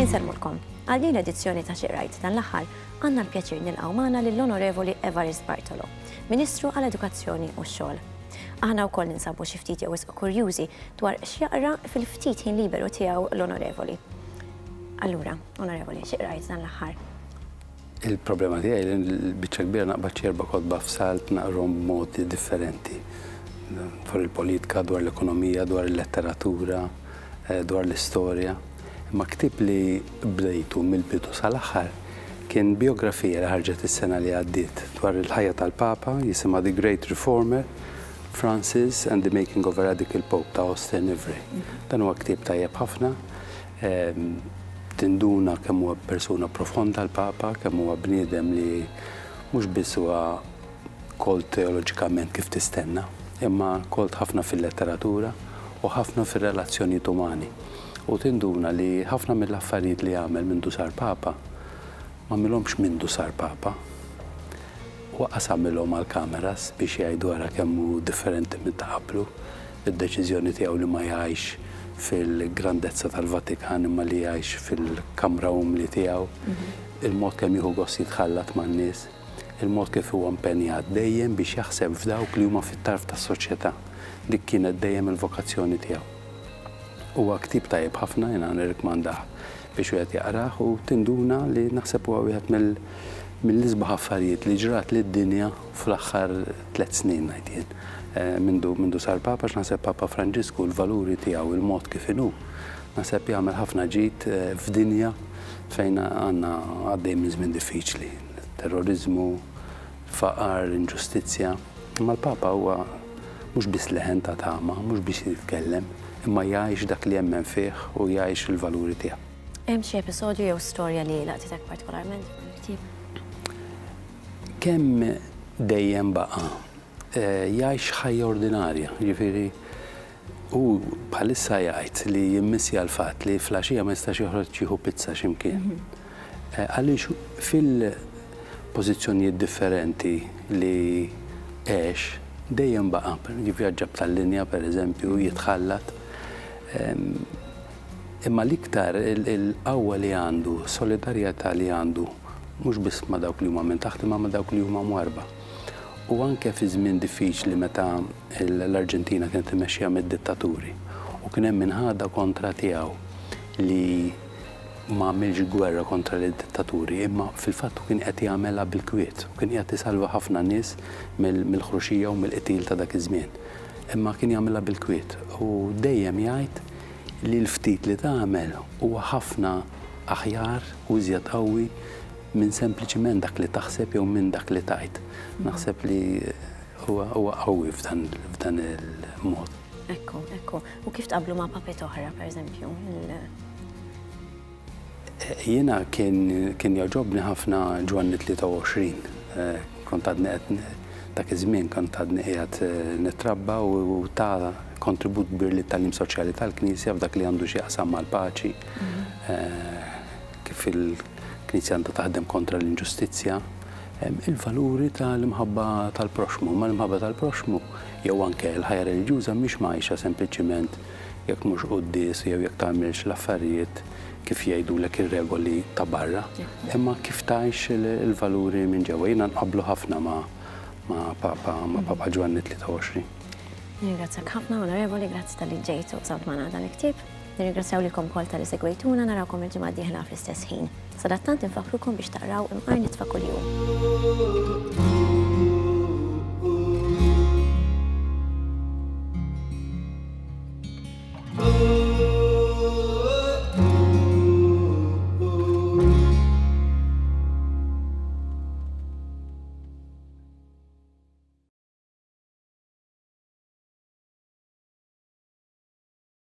Insellmulkom. Għal din l-edizzjoni ta' Xi Rajt dan l-aħħar għandna l-pjaċir nilqgħu magħna lill-Onorevoli Evarist Bartolo, Ministru għal Edukazzjoni u x-Xogħol. Aħna wkoll ninsabu xi ftit jew wisq kurjużi dwar x'jaqra fil-ftit ħin liberu tiegħu l-Onorevoli. Allura, Onorevoli, xi qrajt dan l-aħħar? Il-problema tiegħi li l-biċċa kbira naqbad xi erba' kotba f'salt naqrom b'mod differenti. Dwar il-politika, dwar l-ekonomija, dwar il-letteratura, eh, dwar l-istorja. Imma ktib li bdejtu mill-bidu sal-aħħar kien biografija li ħarġet is-sena li għaddiet dwar il-ħajja tal-Papa jisimha The Great Reformer Francis and the Making of a Radical Pope ta' Austin Ivry. Dan huwa ktieb tajjeb ħafna Tinduna kemm huwa persuna profonda l-Papa, kemm huwa bniedem li mhux biss huwa kolt teoloġikament kif tistenna, imma kolt ħafna fil-letteratura u ħafna fir-relazzjonijiet umani. U tinduna li ħafna mill-affarijiet li għamel mindu sar Papa, m'għamilhomx mindu sar Papa. Huwa qas għamilhom għall-cameras biex jgħidu ara kemm hu differenti minn ta' qablu. id-deċiżjoni tiegħu li ma jgħixx fil-grandezza tal-Vatikan imma li jgħix fil-kamra umli tiegħu, il-mod kemm jieħu gost jitħallat man-nies, il-mod kif huwa impenjat dejjem biex jaħseb f'dawk li huma fit-tarf tas-soċjetà. Dik kienet dejjem il-vokazzjoni tiegħu. Huwa ktieb tajjeb ħafna, jiena nirrikmandah Biex wieħed jaqrah u tinduna li naħseb huwa wieħed mill-isbaħ affarijiet li ġrat lid-dinja fl-aħħar tliet snin ngħid jien. Mindu mindu sar Papa għax naħseb Papa Franġisku l-valuri tiegħu, il-mod kif inhu, naħseb jagħmel ħafna ġid f'dinja fejn għandna għaddej minn żmien diffiċli. Terroriżmu, Faqar, inġustizzja. Imma l-Papa huwa mhux biss leħen ta' tama, mhux biss jitkellem, imma jgħix dak li jemmen fih u jgħix il-valuri tiegħu. Hemm xi episodju jew storja li laqtitek partikolarment f'dan il-ktieb? Kemm dejjem baqa' jgħix ħajja ordinarja, jiġifieri Hu bħalissa jgħid li jimmissja l-fatt li flaxija ma jistax joħroġ jieħu pizza xi mkien. Għaliex fil-pożizzjonijiet differenti li għex, dejjem baqa', jivvjaġġa b'tal-linja pereżempju, jitħallat. Imma l-iktar il-qawwa li għandu, solidarjetà li għandu, mhux biss ma' dawk li huma minn taħt imma ma' dawk li huma mwarrba. u anke fi żmien diffiċli meta l-Arġentina kienet immexxija mid-dittaturi u kien hemm inħada kontra tiegħu li ma għamilx gwerra kontra lid-dittaturi, imma fil-fatt hu kien qed jagħmelha bil-kwiet u kien qiegħed isalva ħafna nies mill-ħruxija u mill-qtil ta' dak iż-żmien. Imma kien jagħmilha bil-kwiet u dejjem jgħid li l-ftit li tagħmel huwa ħafna aħjar u iżjed qawwi Minn sempliċiment dak li taħseb jew minn dak li tgħid. Naħseb li huwa qawwi f'dan il-mod. Ekku, ekku. U kif tqabblu ma' papet oħra, pereżempju? Jiena kien jogħġobni ħafna Ġwanni 23. Eh, kont għadni qed dak iż-żmien kont għadni qiegħed eh, nitrabba u ta' kontribut kbir li tal-lim soċjali tal-Knisja f'dak li għandu xi jaqsam mal-paċi. Mhm. Eh, kif il-Knisja għandha taħdem kontra l-inġustizzja, il-valuri tal-imħabba tal-proxxmu. Imma l-imħabba tal-proxxmu jew anke l-ħajja reliġjuża mhix mgħajxa sempliċiment jekk mhux quddies jew jekk tagħmilx l-affarijiet kif jgħidulek ir-regoli ta' barra, imma kif tgħix il-valuri minn ġewwa. Jiena nqabblu ħafna ma' Papa ma' Papa Ġwanni 23. Ningrazzjak ħafna, Onorevoli, grazzi tal-li ġejtu u dan il-ktieb. Nirringrazzjaw lilkom ukoll talli segwejtuna, narawkom il-ġimgħa d-dieħla fl-istess ħin. Sadattant infakkrukom biex taqraw Imqar Nitfa Kuljum.